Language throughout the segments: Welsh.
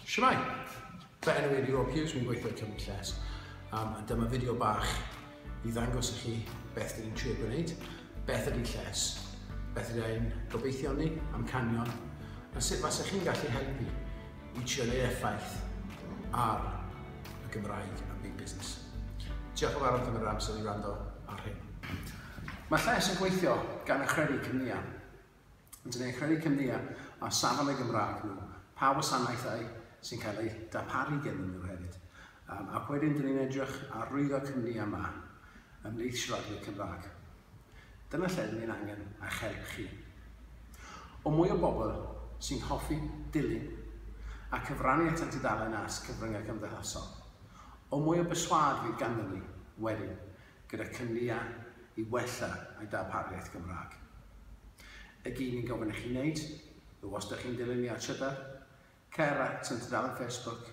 Shwmae! Fy enw i Rhiwa Hughes, mi'n gweithio i Cymru Lles. Um, a dyma fideo bach i ddangos i chi beth dyn ni'n trio gwneud, beth ydy lles, beth ydy ein gobeithion ni, amcanion, a sut fasa chi'n gallu helpu i trio neud effaith ar y Gymraeg a byd busnes. Diolch yn fawr am yr amser i rando ar hyn. Mae lles yn gweithio gan achredu cymniau. Dyn ni'n credu cymdeau ar safon y Gymraeg nhw, pa wasanaethau sy'n cael eu darparu gennym nhw hefyd. Um, ac wedyn dyn ni'n edrych ar rwyddo cymdeau yma ymhlith siaradwyr Cymraeg. Dyna lle dyn ni'n angen eich help chi. O mwy o bobl sy'n hoffi dilyn a cyfrannu at y tudalen as cyfryngau cymdeithasol, o mwy o berswad fydd ganddyn ni wedyn gyda cynlluniau i wella ei darpariaeth Gymraeg. Y gyn i'n gofyn i chi wneud yw os dych chi'n dilyn ni ar Twitter, cer at yn tudalen Facebook,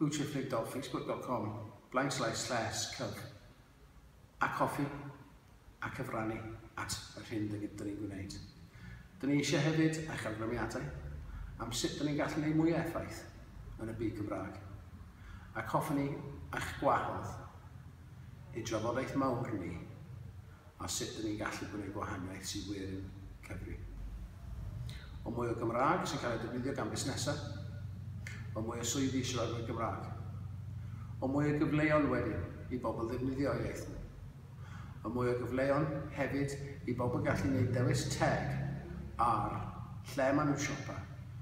bywtreftwydofacebook.com blaenslaes slaes cyg ac hoffi a cyfrannu at yr hyn dyn ni'n gwneud. Dyn ni eisiau hefyd eich awgrymiadau am sut dyn ni'n gallu gwneud mwy o effaith yn y byd Gymraeg ac hoffwn ni eich gwahodd ein trafodaeth mawr ni a sut dyn ni'n gallu gwneud gwahaniaeth sy'n wir yn cyfri. O mwy o Gymraeg sy'n cael ei defnyddio gan busnesau, o mwy o swyddi siaradwyr Gymraeg, o mwy o gyfleon wedyn i bobl ddefnyddio iaith nhw, o mwy o gyfleon hefyd i bobl gallu gwneud dewis teg ar lle maen nhw'n siopa